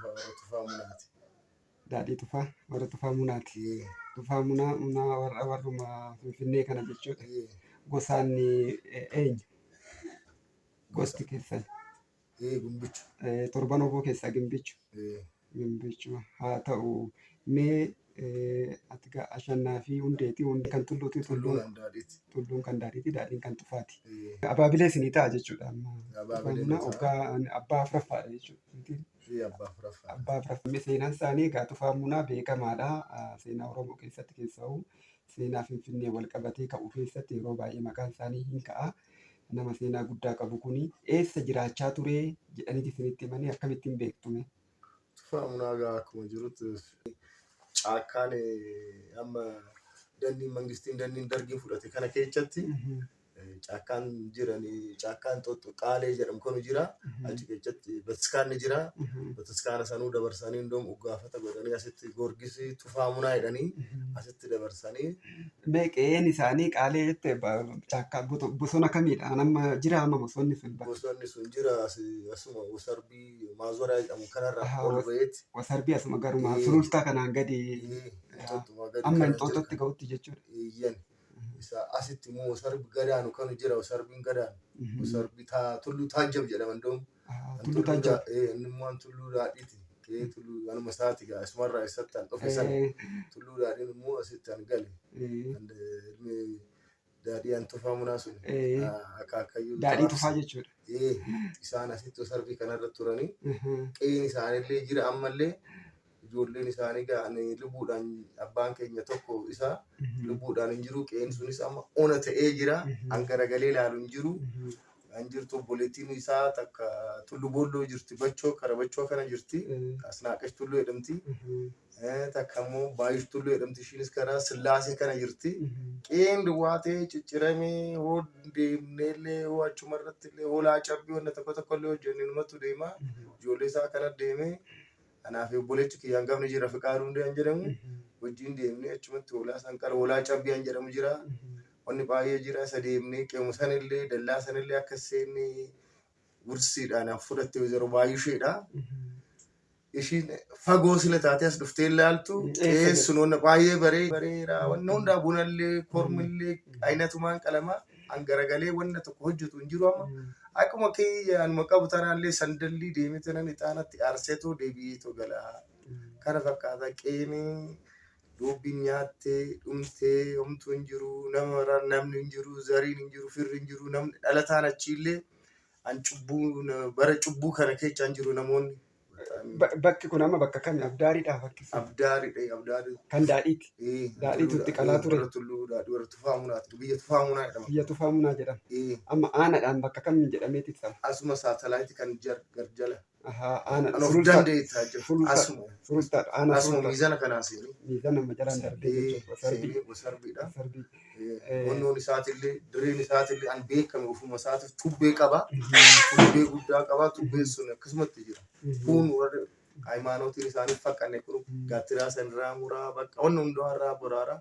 Warra tufaa munaati. Daadhii tufaa warra tufaa munaati. Ee, Tufaa munaa munaa warra warruma Finfinnee kana jechuudha. ee, Gosaan eh, eenyu? Gosti keessan. ee, gumbicha. Eh, Torban oboo keessaa gimbichu. Ee, Gimbichu haa ta'u. Mee Ati gaa ashannaa fi hundeeti. Hundee kan tulluuti. Tulluun tulluun kan daadhiiti. Daadhiin kan tufaati. Abaabilee isinii ta'a jechuudha. Amma oggaa abbaa afuraffaadha jechuudha. Abbaa afuraffaa. Seenaan isaanii egaa tufaa munaa beekamaadha. Seenaa Oromoo keessatti keessa'u seenaa Finfinnee wal qabatee ka'u keessatti yeroo baay'ee maqaan isaanii hin ka'a. Nama seenaa guddaa qabu kuni eessa jiraachaa ture jedhaniiti isinitti himanii akkamittiin beektume? Tufaa munaa gaa akkuma jirutti caakkaan amma dandiin mangistiin dandiin dargiin fudhate kana keessatti caakkaan jiranii caakkaan xoxxoqaalee jedhamu kanu jira achi keessatti batiskaan ni jira batiskaana sanuu dabarsanii indoom uggaafata godhanii asitti goorgisii tufaa munaa jedhanii asitti dabarsanii Mee qe'een isaanii qaalee jette caakkaa bosona kamiidha? Nama jira amma bosonni sun bakka. bosonni sun jira asi- asuma wasarbii maazoraa jedhamu kanarraa Aha, ol was- ba'eet wasarbii asuma garumaa Ee. sulultaa kanaan gadi inxooxxuma gadi amma kana inxooxxotti jira. ga'utti jechuudha. Eeyyan. Isa asitti immoo wasarbi gadaanu kanu jira wasarbiin gadaanu. Mhm. Wasarbi taa tulluu taajjab jedhama iddoo. Aha, Tulluu Taajjab. Inni immoo an tulluu daadhiiti. Ee tulluu anuma isaati gaa asumarraa isatti an dhufe sana. Ee, Tulluu daadhiin immoo asitti an gale. ee, An, eh, ilmi Daadhii an tufaa munaa sun Ee. ah, akka akkayyuu Daadhii tufaa jechuudha. Ee, isaan asitti sarbii kanarra turanii Mhm. qe'een isaanillee jira ammallee ijoolleen isaanii ga'an lubbuudhaan abbaan keenya tokko isaa Mhm. lubbuudhaan hin jiru qe'een sunis amma ona ta'ee jira Mhm. an garagalee ilaalu hin jiru Mhm. An jirtu obboleettiin isaa takka tullu boolloo jirti bachoo kara bachoo kana jirti asnaaqash tullu jedhamti takka immoo baayush tullu jedhamti ishiinis kara sillaasee kana jirti qeen duwwaa ta'ee cicciramee hoo deemneellee hoo achuma irratti illee hoolaa cabbii wanna tokko tokko illee hojjenne numatu deema ijoollee isaa kana deemee anaa fi obboleechi kiyyaan gafni jira fiqaa hundee an jedhamu wajjin deemnee achumatti hoolaa san qara hoolaa cabbii an jedhamu jira Wanni baay'ee jira isa deemnee qe'uma sanillee dallaa sanillee akka hin seenne gursiidhaan an fudhatte wayzaroo baay'isheedha. Ishiin fagoo sila taatee as dhuftee ilaaltu Mm, eessa jirti? eessuun wanna baay'ee baree bareera wanna hundaa bunallee kormillee aynatumaan qalama an garagalee wanna tokko hojjetu hin jiru amma akkuma kiyya anuma qabu tanaallee sandallii deemee tanan ixaanatti aarseetoo deebi'eetoo galaa kana fakkaata qeenii Boobbiin nyaattee dhumtee homtuu hin jiru nama maraan namni hin jiru zariin hin jiru firri hin jiru namni dhalataan achiillee an cubbuu na- bara cubbuu kana keessa hin jiru namoonni Bataamii. Ba- Bakki kun amma bakka kami? Abdaariidhaa bakki sun. abdaariidha abdaari Kan daadhiiti. Eh, Daadhiitu itti qalaa ture. warra tulluu daadhii warra tufaa munaati biyya tufaa munaa jedhama Biyya tufaa munaa jedhama. Eh, Amma aanaadhaan bakka kamiin jedhameeti ibsama? asuma saatalaayiti kan jar garjala Ahaa, aana Kan of sulultaa. dandeettaa jechuudha. Sulultaa. Asuma. Sulultaa, aana Asuma sulultaa. miizana kanaa seenee. Miizana nama jalaan darbee Sarbee jechuudha. Sarbii. seenee wasarbiidha. Sarbii. Eh. Honnoon isaatillee dirreen isaatillee an beekame ofuma isaatiif tubbee qaba. Tubbee guddaa qaba. Tubbeen sun akkasumatti jira. Kun warri hayimaanootiin isaanii fakkane kun gaattiraa san irraa muraa bakka wanna hundaa irraa boraaraa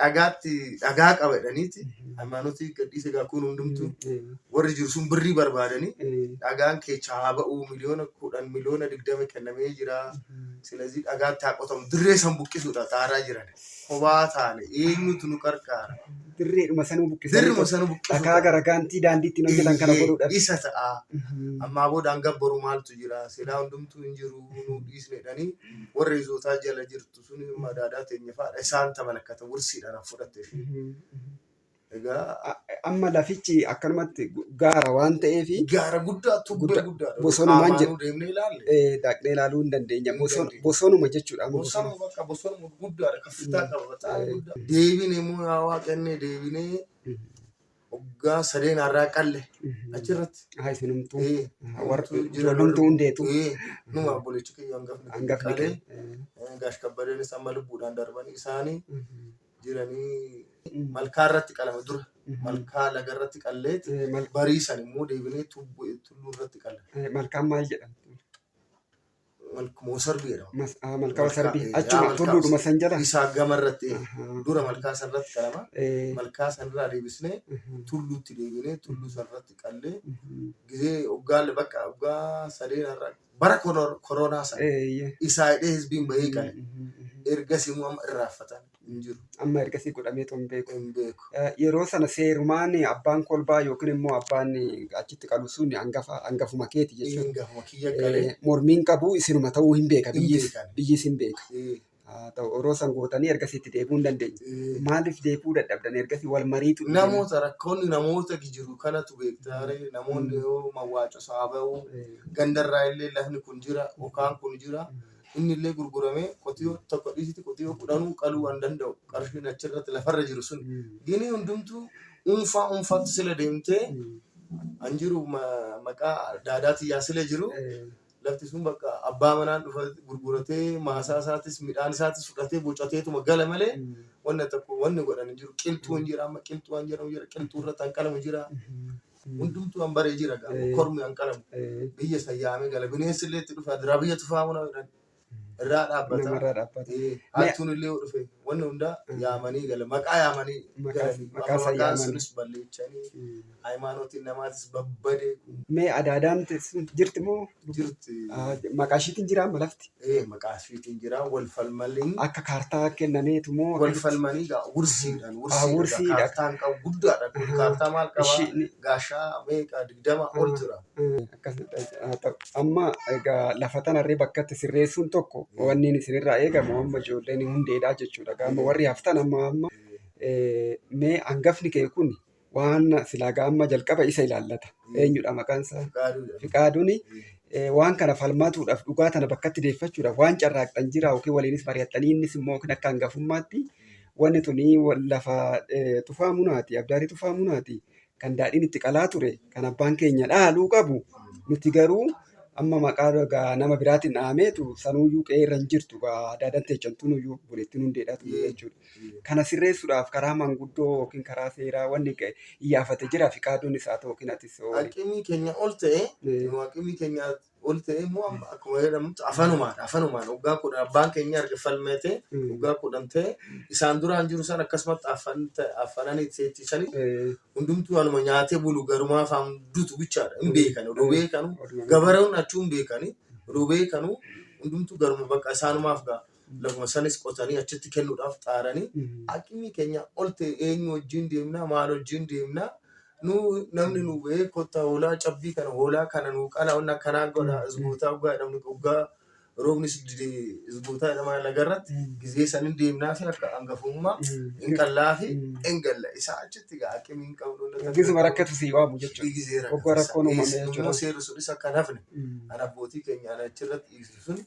dhagaatti dhagaa qaba jedhaniiti haymaanutii gadhiise gaa kun hundumtuu warri jiru sun birrii barbaadanii dhagaan keechaa haa ba'uu miliyoona kudhan miliyoona digdama kennamee jira silazii dhagaatti haa qotamu dirree san buqqisuudha xaaraa jiran kophaa taane eenyutu nu qarqaara Dirreedhuma sanuu buqqisanii dirruma sana dhakaa buqqisuudha garagaantii daandiitti hojjetan kana godhuudhaaf. isa ta'a ammaa boodaan gabbaru maaltu jira silaa hundumtuu hin jiru nu dhiisne jedhanii warra izootaa jala jirtu Sun immoo daadaa teenya faadha. Isaan ta malakkata wursiidhaan an fudhatte fi egaa A- Amma lafichi akkanumatti gu- gaara waan ta'eef gaara guddaa tubbee Guddaa- guddaadha. bosonumaan Qaamaanuu jedhu. deemnee ilaalle. eh, dhaqnee ilaaluu hin dandeenya. Hin Boson- dandeenya. Bosonuma jechuudha. amma bosona. Bosonuma bakka bosonuma guddaadha. Kaffitaa qaba. Bataayee guddaa. Deebine immoo yaa waaqannee deebinee Hoggaa sadeen harraa qalle achirratti. Haa isinumtuu. Eh, Warra nutu jira ijoollumtuu loluu. hundeetu. Eh, numa obboleechi kiyya hangafni kiyya Hangafni qalee. kee. Eh, Gaash kabbadeenis amma lubbuudhaan darbanii isaanii jiranii malkaa irratti qalama dura. Malkaa laga irratti qalleet Eh, mal- bariisan immoo deebinee tubboo tulluu irratti qalla. eh, Malkaan maal jedhamti? Malkumoo sarbii jedhama. Mas, ah, malkama sarbii. eh, Achuma malkaa- tulluudhuma san jala. Isaa gama irratti eh, Ahaa. dura malkaa san irratti qalama. Eh, Malkaa san irraa deebisnee mhm, tulluutti deebinee tulluu san irratti qallee mhm. gizee uggaalle bakka uggaa sadeen irra bara koro- koronaa san Eh, yeah. isaa hidhee hizbiin bahee qale. Mhm, mhm. Ergas immoo amma irraaffatan. hin jiru. Amma ergasii godhameetoo hin beeku. Hin beeku. Eh, Yeroo sana seerumaan abbaan kolbaa yookiin immoo abbaan achitti qalu sun hangafa hangafuma keeti jechuudha. Hangafuma kiyya qalee. Eh, Mormiin qabu isinuma ta'uu hin beeka. Hin Biyyis beekan. biyyis hin beeka. Eh, Haa ta'u yeroo san gootanii ergasii itti deebi'uu hin dandeenye. eh. Maaliif deebi'uu dadhabdan ergasii wal mariitu dhufee- Namoota rakkoonni namoota jiru kanatu beektaare namoonni yoo mawwaacoo saaba'u Eh, gandarraa illee lafni kun jira yookaan kun jira Inni illee gurguramee qotiyoo tokko dhiisiti qotiyoo kudhanuu qaluu waan danda'u qarshiin achirratti lafarra jiru sun gini hundumtuu unfaa unfaatti sila deemtee an jiru ma- maqaa daadaa tiyyaa sila jiru lafti sun bakka abbaa manaan dhufa gurguratee maasaa isaatis midhaan isaatis fudhatee bocateetuma gala malee wanna tokko wanni godhan hin jiru qilxuu hin jira amma qilxuu waan jedhamu jira qilxuu irratti hanqalamu jira hundumtuu an baree jira gaama Eh. kormi an qalamu Eh, biyya isa yaamee gala bineensi illee itti dhufa diraa biyya tufaa muna jedhan irraa dhaabbata namarraa dhaabbata. Eh, hattuun illee yoo dhufe wanni hundaa Mm. yaamanii gala maqaa yaamanii Maqaa- galanii maqaa amma isaa maqaan yaamanii. sunis balleechanii Mm. hayimaanootiin namaatis babbadee Mee adaadaan teessu jirti moo? jirti. Maqaa ishiitiin jira amma lafti. Ee maqaa ishiitiin jira wal falmaliin. Akka kaartaa kennameetu moo. Wal falmanii gaa wursiidhaan wursiidhaan kaartaan qabu guddaadha. Kaartaa maal qabaa gaashaa meeqa digdama ol jira. Amma egaa lafa tanarree bakka itti sirreessuun tokko wanni isinirraa eegamu amma ijoolleen hundeedhaa jechuudha. Amma warri haftan amma amma mee hangafni kee kun waan silaa gaamma jalqaba isa ilaallata. Eenyudha maqaan isaa? Fiqaaduun waan kana falmatuudhaaf dhugaa tana bakkatti deeffachuudhaaf waan carraaqxan jira yookiin waliinis mari'attanii innis immoo yookiin akka hangafummaatti wanni tuni lafa tufaa munaati abdaarii tufaa munaati kan daadhiin itti qalaa ture kan abbaan keenya dhaaluu qabu nuti garuu amma maqaa gaa nama biraatiin dhaameetu sanuuyyuu qe'ee irra hin jirtu gaa daadaan teechantuunuyyuu buleettiin hundeedhaatu jechuudha. Kana sirreessuudhaaf karaa manguddoo yookiin karaa seeraa wanni ga'e iyyaafate jira fiqaaduunis haa ta'u yookiin atis yoo wali. Aqimii keenya ol ta'e Eh. nu aqimii keenya ol ta'e immoo amma akkuma jedhamutti afanumaan afanumaan waggaa kudhan abbaan keenya erga falmeetee Mm. waggaa kudhan ta'e isaan duraan jiru san akkasumatti afan ta'e afananii teechisanii Eh, hundumtuu anuma nyaatee bulu garumaa afaan dutu bichaadha hin beekan odoo beekanu oduma- gabareewwan achuu hin beekani odoo beekanu hundumtuu garuma bakka isaanumaaf ga'a lafuma sanis qotanii achitti kennuudhaaf xaaranii aqimii keenya ol ta'e eenyu wajjin deemnaa maal wajjin deemnaa nu namni nu ba'ee kottaa hoolaa cabbii kana hoolaa kana nu qalaa wanna kanaa godha isgootaa dhugaa jedhamni dhugaa roobnis dide isgootaa jedhamaa lagarratti gizee sanin deemnaa fi akka angafummaa hin qallaa fi hin galla isaa achitti gaa aqimii hin qabnu wanna takka Gisuma rakkatu sii waamu jechuudha. Hoggoo rakkoon uumame jechuudha. Immoo seerri sunis akka hin hafne kan abbootii keenya achirratti dhiise. sun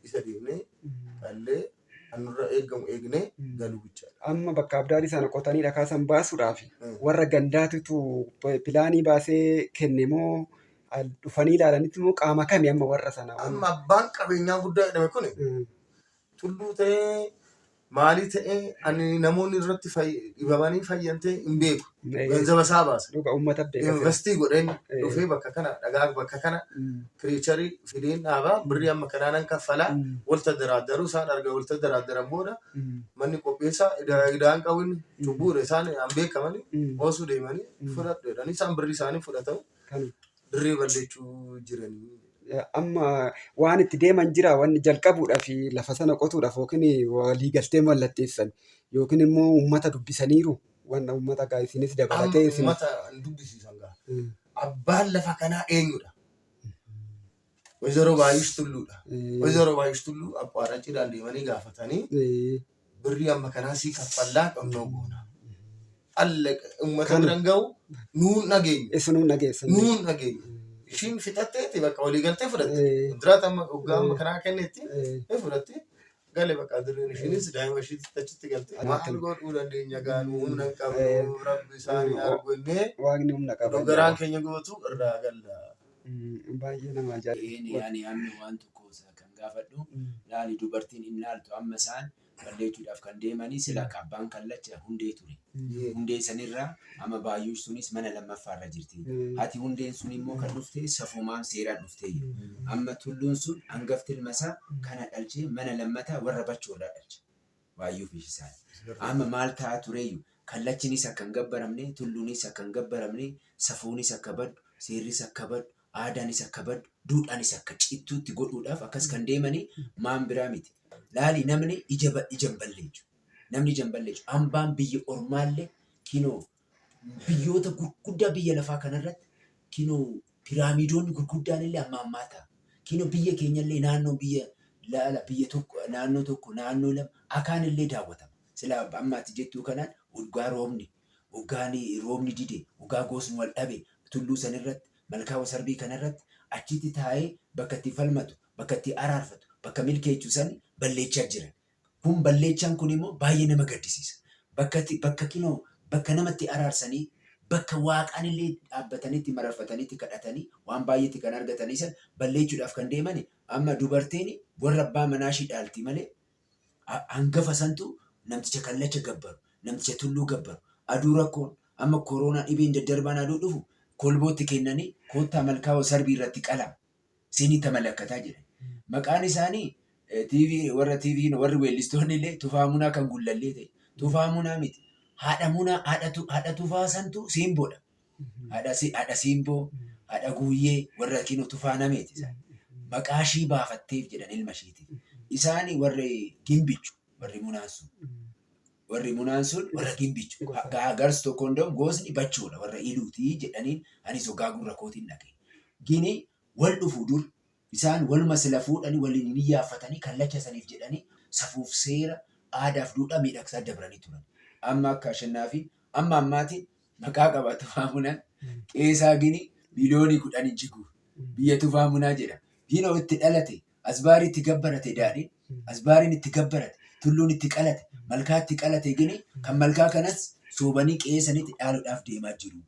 isa deemnee dhallee kan nurra eegamu eegnee galuu bichaadha. Amma bakka abdaarii sana qotanii dhakaa san baasuudhaaf warra gandaatitu pilaanii baasee kenne moo al- dhufanii ilaalanitti moo qaama kami amma warra sana? Amma abbaan qabeenyaa guddaa jedhame kun Mm, tulluu ta'ee maalii ta'ee ani namoonni irratti fay- dhibamanii fayyan ta'e hin beeku. Eeyyee. Ganzaba isaa baasa. Dhuga uummata beeka jira. Investii godheen Ee. dhufee bakka kana dhagaa bakka kana Mm, piriicharii fideen dhaabaa birrii amma kanaan an kaffalaa mm, walta daraaddaruu isaan arga walta daraaddaran booda mm, manni qopheessaa idaa- idaan qabuun cubbuudha isaan an beekamanii mm. oosuu deemanii Mm. fudhadhu jedhanii isaan birrii isaanii fudhatan Kan Dirree balleechuu jiranii. Amma waan itti deeman jira wanni jalqabuudhaaf lafa sana qotuudhaaf yookiin walii galtee mallatteessan yookiin immoo uummata dubbisaniiru wanna uummata gaa isinis dabalatee isin. Uummata dubbisiisan gaa. Abbaan lafa kanaa eenyudha? Wayzaroo Baayush Tulluudha. Eh. Wayzaroo Baayush Tulluu Abbaarachiidhaan deemanii gaafatanii Eh, birrii amma kanaa sii kaffallaa dhonnoo goona. Alla uummata Kana. biran ga'u nuun dhageenyu. Isa nuun dhageessan. Nuun dhageenyu. Ishiin fixatteeti bakka walii galtee fudhatte. Eh. Diraata amma hoggaa amma kanaa kennetti Eh, ni fudhatte. gale bakka dirreen ishiinis daa'ima ishiitti achitti galte maal godhuu dandeenya gaanu humna hin qabnu rabbi isaanii argu innee waaqni humna qaba nu garaan keenya gubatu irraa galla. Baay'ee nama Inni ani amma waan tokko isa kan gaafadhu laali dubartiin hin laaltu amma isaan balleechuudhaaf kan deemanii sila abbaan kallacha hundee ture. Hundeen san irra, amma Baayuush tunis mana lammaffaa irra jirti. Hati Hundeen sun immoo kan dhufte safuumaan seeraan dhufteeyyu. Amma Tulluun sun angafti ilma isaa kana dhalchee mana lammataa warra Bachoo irraa dhalche. Baayuu fi Shisaay. Amma maal ta'aa tureeyyu, Kallachinis akka hin gabbaramne, Tulluunis akka hin gabbaramne, safuunis akka baddu, seerris akka baddu, aadaanis akka baddu, duudhaanis akka cittuutti godhuudhaaf akkas kan deemani maan biraa miti. Laali namni ija ija hin balleechu. Namni janba hin leencu. Hambaan biyya ormaallee kinoo biyyoota gurguddaa biyya lafaa kanarratti kinoo piraamiidoonni gurguddaanillee amma ammaa ta'a. Kinoo biyya keenyallee naannoon biyya laala biyya tokko naannoo tokko naannoo lama akaanillee daawwatama. Silaa amma ati jettuu kanaan waggaa roobni waggaan roobni dide waggaa gosni wal dhabe tulluu sanirratti malkaa wasarbii kanarratti achitti taa'ee bakka itti falmatu bakka itti araarfatu bakka milkeechu san balleechaa jiran. Kun balleechaan kun immoo baay'ee nama gaddisiisa. Bakka itti bakka kinoo bakka nama itti araarsanii bakka waaqaan illee dhaabbatanii itti mararfatanii itti kadhatanii waan baay'ee itti kan argatanii san balleechuudhaaf kan deemani amma dubartiin warra abbaa manaa ishii dhaalti malee hangafa santu namticha kallacha gabbaru namticha tulluu gabbaru aduu rakkoon amma koroonaa dhibeen daddarbaan aduu dhufu kolbootti kennanii koottaa malkaawoo sarbii irratti qalama. Siinii Tamalakkataa jedhan. Maqaan isaanii TV warra TV warri weellistoonni illee Tufaa Munaa kan Gullallee ta'e. Tufaa Munaa miti. Haadha Munaa haadha tu- haadha Tufaa santu Siimboodha. Haadha si- haadha Siimboo, haadha Guuyyee warra kinoo Tufaa Nameeti isaan. Maqaa ishii baafatteef jedhan ilma ishiitiif. Isaani warri Gimbichu warri Munaan sun. Warri munaan sun warra gimbichu. Gosa. Ga- Gars tokko hundom gosni bachoodha warra iluuti jedhaniin anis ogaa gurra kootiin dhage. Gini wal dhufu dur isaan waluma sila fuudhani waliin hin iyyaaffatanii kallacha saniif jedhanii safuuf seera aadaaf duudhaa miidhagsaa dabranii turan. Amma akka Ashannaafiin amma ammaatiin Maqaa qaba Tufaa Munaan. Qeesaa gini biliyoonii kudhani jigu biyya Tufaa Munaa jedha. Gino itti dhalate, asbaari itti gabbarate daadhin, asbaarin itti gabbarate, tulluun itti qalate, malkaa itti qalate gini kan malkaa kanas soobanii qe'ee sanitti dhaaludhaaf deemaa jiru.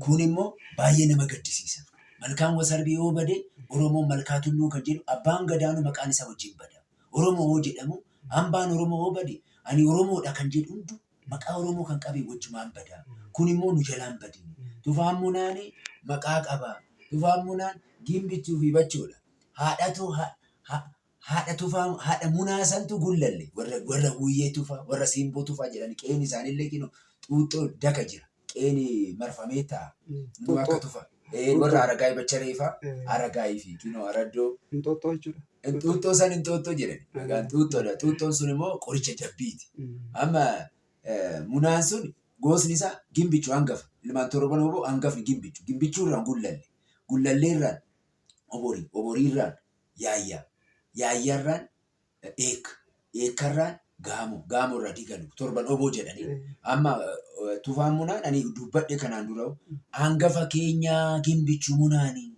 Kun immoo baay'ee nama gaddisiisa. Malkaan Wasarbii yoo bade Oromoon malkaa tulluu kan jedhu abbaan gadaanu maqaan isaa wajjin bada. Oromoo yoo jedhamu hambaan Oromoo yoo bade ani Oromoodha kan jedhu hundu Maqaa Oromoo kan qabe wajjumaan bada. Kun immoo nu jalaa hin badin. Tufaan Munaan maqaa qaba. Tufaan Munaan Gimbichuu fi Bachoo dha. Haadhatu ha, ha, haadha Tufaa, haadha Munaa santu gullalle. Warra, warra Huuyee Tufaa, warra Siimboo Tufaa jedhani qe'een isaanillee kinoo Xuuxxoo, Daka jira. qeeni marfamee ta'a. Nuu akka Xuuxxoo. tufa. Ee, Xuuxxoo. warra Aragaay Bachareefaa, Eh, Aragaay fi Kinoo Araddoo. Inxooxxoo jechuudha. Xuuxxoo san Inxooxxoo jedhan. Mm. Maqaan Xuuxxoodha. Xuuxxoon sun immoo qoricha jabbiiti. Mm. Amma eh, munaan sun goosni isaa gimbichu hangafa. Ilmaan torban oboo hangafni gimbichu. Gimbichuu irraan gullalle. Gullallee irraan oborii. Oborii irraan yaayyaa. Yaayyaa irraan Dheekka. Dheekkarraa Gaamo. Gaamorraa Digalu. Torban oboo jedhanii. Amma Tufaan Munaan ani dubbadhe kanaan dura hangafa keenyaa Gimbichu Munaani.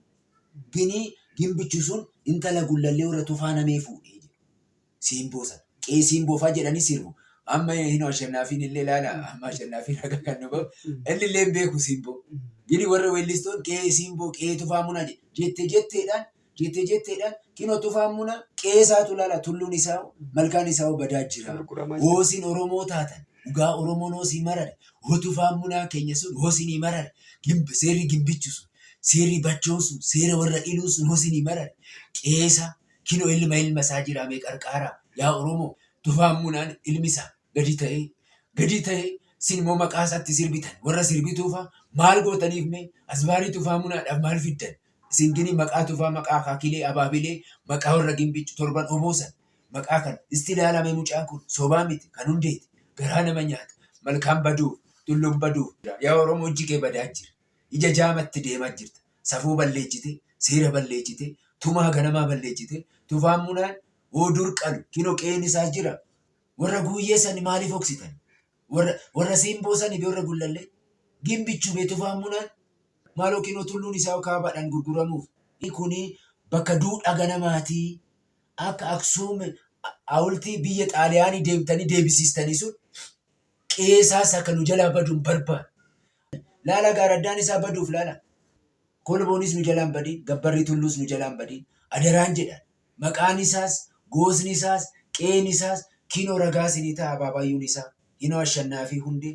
Gini Gimbichu sun intala Gullallee warra Tufaa Namee fuudhe jedhu. Siimboo sana. Qee Siimboo faa jedhanii sirbu. Amma hino Ashannaafiin illee ilaala. Amma Ashannaafiin akka kan nu bahu. Inni illee hin beeku Siimboo. Gini warra weellistoon qee Siimboo qee Tufaa Munaa jette jetteedhaan Jettee jetteedhaan kinoo tufaan munaa qe'ee isaatu lala tulluun isaa'u malkaan isaa'u badaa jira. Hoo isin Oromoo taatan dhugaa Oromoon hoo sii marare hoo tufaan munaa keenya sun hoo sinii marare gimb seerri gimbichu sun seerri bachoon sun seera warra iluu sun hoo sinii marare qe'ee isaa kinoo ilma ilma isaa jiraa mee qarqaaraa yaa Oromoo tufaan munaan ilmi isaa gadi ta'ee gadi ta'ee sin immoo maqaa isaatti sirbitan warra sirbituufaa maal gootaniif mee asbaarii tufaa munaadhaaf maal fiddan Isin gini maqaa tufaa maqaa akaakilee abaabilee maqaa warra gimbiichu torban oboosan maqaa kana isti ilaala mee mucaan kun sobaa miti kan hundeeti garaa nama nyaata malkaan baduuf tulluun baduuf yaa oromoo ijji kee badaa jira ija jaamatti deemaa jirta safuu balleechite seera balleechite tumaa ganamaa balleechite tufaan munaan hoo dur qalu kino qe'een isaa jira warra guuyyee sani maaliif hoksitan warra warra siimboo sani fi warra gullallee gimbichu bee tufaan munaan Maal yookiin hoo tulluun isaa kaabaadhaan gurguramuuf? I. Kun bakka duudhaa ganamaati. Akka Aksuum hawultii biyya Xaaliyaanii deemtanii deebisiistanii sun qe'ee isaas akka nu jalaa badu hin barbaadu. Laala gaaraddaan isaa baduuf laala. Kolboonis nu jalaan badiin, gabbarri tulluus nu jalaan badiin adaraan jedhan. Maqaan isaas, goosni isaas, qe'een isaas kinoo ragaa isinii ta'a abaabaayyuun isaa. Hinoo Ashannaafii Hundee.